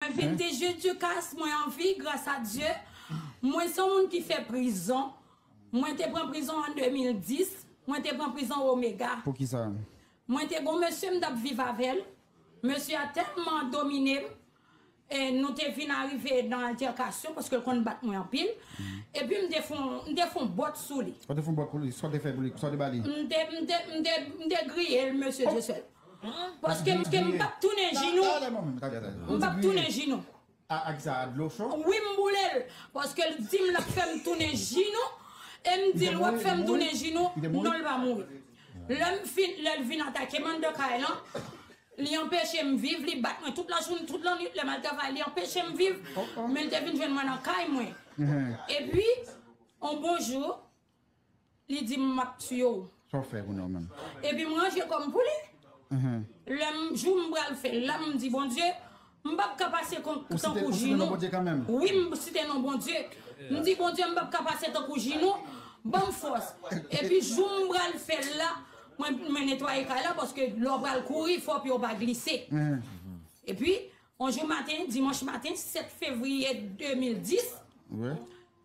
Vente je Dieu kas mwen anvi gras a Dieu mwen son moun ki fè prizon mwen te pran prizon an 2010 mwen te pran prizon omega mwen te gon mesye m tap viv avèl mesye a tèlman dominem e nou te vin arive nan altèkasyon paske l konn bat mwen anpil epi m te fon m te fon bòt sou li ou te fon bòt pou li sa w te fè pou li sa w te bali m te m te m te griyel mesye Dieu seul. Paske m p ap tounen jinou. M p ap tounen jinou. Wi m boule l. Paske l di m l ap fè m tounen jinou. E m di l w ap fè m tounen jinou. Non l pa mouri. Lè m fin, lè l vin atake m anndan kay lan, li anpeche m viv, li bat mwen tout lajounen, tout lannuit lè m al travay. Li anpeche m viv. Men l te vin jwenn mwen nan kay mwen. Epi, yon bon jou. Li di m map tiye w. Sa w fè pou nou menm? Epi m ranje kò m pou li. Lè m jou m pral fè l la, m di Bondye, m pap ka pase tankou Jinou. Wi m site non Bondye. M di Bondye m pap ka pase tankou Jinou, ban m fòs. Epi jou m pral fè l la, mwen netwaye kay la paske lè w pral kouri fò pye w pa glise. Epi yon jou maten, dimanch maten 7 fevriye 2010.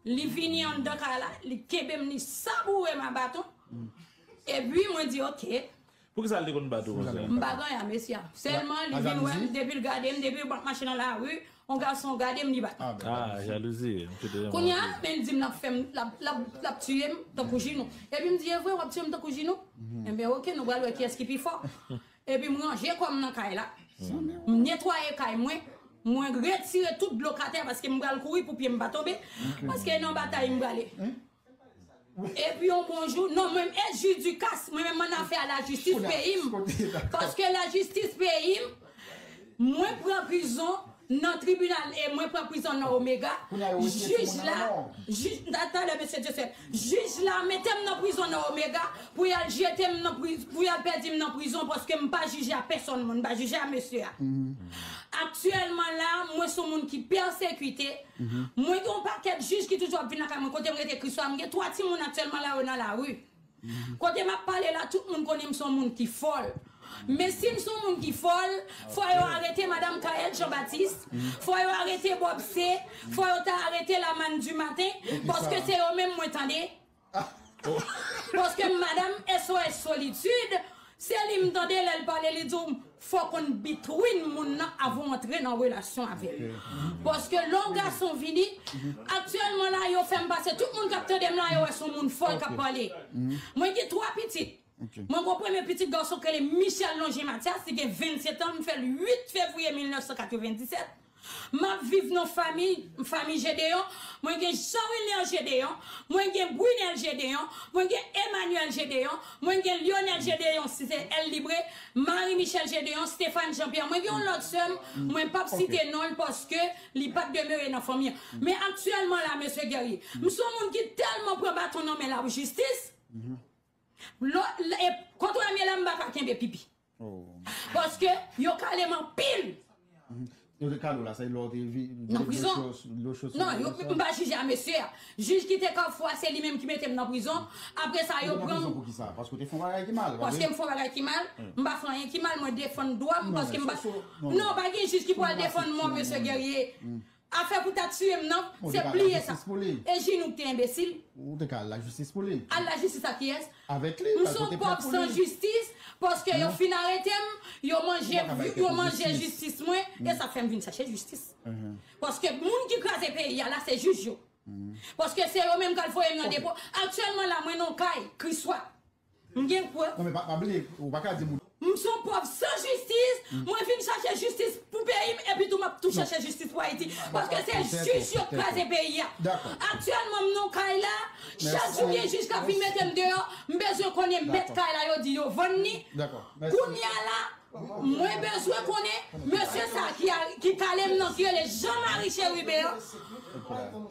Li vini anndan kay la, li kenbe m, li saboure m a baton. Epi mwen di ok. Poukisa l te konn bat ou konsa? M pa konn a mesye a. Sèlman li vin wè m, depi l gade m, depi m ap mache nan lari, yon gason gade m li bat m. A, jalouzi. Kounye a, men l di m l ap fè m, l ap tiye m tankou Jinou. Epi m di evre w ap tiye m tankou Jinou? Enben ok, nou pral wè kiyès ki pi fò. Epi m ranje kò m nan kay la. M netwaye kay mwen. Mwen retire tout dlo katè paske m pral kouri pou pye m pa tonbe. Paske e nan batay m prale. Epi yon bon jou, non mwen menm e Juducas, mwen menm m annafè a lajistis peyi m. Paske lajistis peyi m. Mwen pran prizon nan tribinal e mwen pran prizon nan Omega, jij la, jij, ta, talè mesye Joseph, jij la mete m nan prizon nan Omega pou y al jete m nan prizon, pou y al pèdi m nan prizon paske m pa jije a pèsonn moun, m pa jije a mesye a. Aktyèlman la a, mwen s on moun ki pèsekite, mwen gen yon pakèt jij ki toujou ap vin lakay mwen kote m rete Kriswa, m gen 3 timoun aktyèlman la a yo nan lari. Kote map pale la tout moun konnen m son moun ki fòl men sim son moun ki fòl fò yo arete madam Kaëlle Jean Baptiste fò yo arete Bob C fò yo ta arete la manne du matin paske se yo menm mwen tande paske m madam SOS solitude Se li m tande lè l pale li di w fò w konn between moun nan avan w antre nan relasyon avè l. Paske lè w gason vini, aktyèlman la yo fè m pase tout moun k ap tande m la yo wè s on moun fòl k ap pale. Mwen gen 3 pitit. Mwen gen yon premye pitit gason k rele Michel Longé Mathias li gen 27 an m fè l 8 fevriye 1997. Map viv nan fami fami Gedeon, mwen gen Jean Wilner Gedeon, mwen gen Brunel Gedeon, mwen gen Emmanuel Gedeon, mwen gen Lionel Gedeon si se El Libre, Marie Michelle Gedeon, Stephane Jean Pierre, mwen gen yon lòt sè m mwen pap site non l paske li pat demere nan fanmi an. Men aktyèlman la Mesye Guerrier, m son moun ki tèlman pran baton nan men la pou jistis, lò e kont Remy la m pa ka kenbe pipi. Paske yo kalem anpil. Yo te kale w la se lè w te vin nan prizon? Non, yo m pa jije a mesye a. Jij ki te kafou a se li menm ki mete m nan prizon. Apre sa yo pran m. Ou te nan prizon pou ki sa? Paske w te fè yon bagay ki mal? Paske m fè yon bagay ki mal. M pa fè anyen ki mal. Mwen defann dwa m paske m pa. Non, pa gen jij ki pral defann mwen mesye Guerrier. Afè pou ta tiyem nan se pliye sa e jinn ou k te enbesil. Ou te ka al lajistis pou li. Al lajistis ak kiyès? Avèk li, al pote plent pou li. M son pòv san jistis paske yo fin arete m, yo manje yo manje jistis mwen e sa fè m vin chache jistis. Paske moun ki kraze peyi a la se jij yo. Paske se yo menm k al voye m nan depo. Aktyèlman la mwen nan yon kay, Kriswa. M gen prèv. Non men pa bliye ou paka di moun. M son pòv san jistis, mwen vin chache jistis pou peyi m epi tou map tou chache jistis pou Ayiti paske se jij yo k kraze peyi a. Aktyèlman m nan kay la, chak jou gen jij kap vin mete m deyò, m bezwen konnen mèt kay la yo di yo vann li, kounya la mwen bezwen konnen mesye sa ki kale m nan ki rele Jean Marie Chérubin an,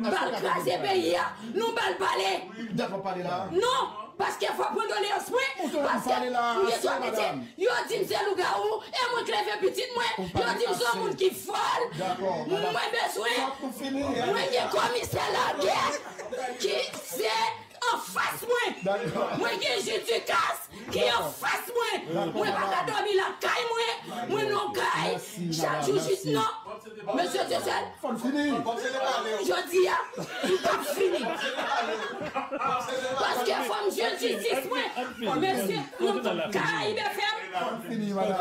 Bal kraze peyi a nou bal pale non paske fò pran doleans mwen paske m gen 3 pitit yo dim se lougawou e mwen k leve pitit mwen yo dim son moun ki fòl mwen bezwen mwen gen komisè lagè ki se Anfas mwen! Mwen gen Judikas ki anfas mwen! Mwen pa ka dòmi lakay mwen! Mwen non kay chak jou jis non! Mesye Dieuseul, jodi a, m pa p fini! Paske fò m jwenn jistis mwen! Mesye, m karayibe fè m!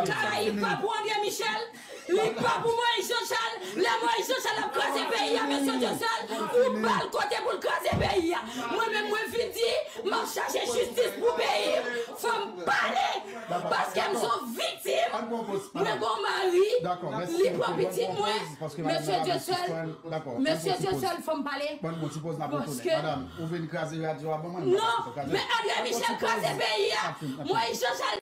Karayib pap ou André Michel! Li pa pou Moïse Jean Charles, lè Moïse Jean Charles ap kraze peyi a mesye Diosel ou bal kote poul kraze peyi a. Mwen menm mwen vin di map chache jistis pou peyim fòm pale paskem son viktim mwen gon mari li pran pitit mwen mesye Diosel mesye Diosel fòm pale paske non men Andre Michel kraze peyi a Moïse Jean Charles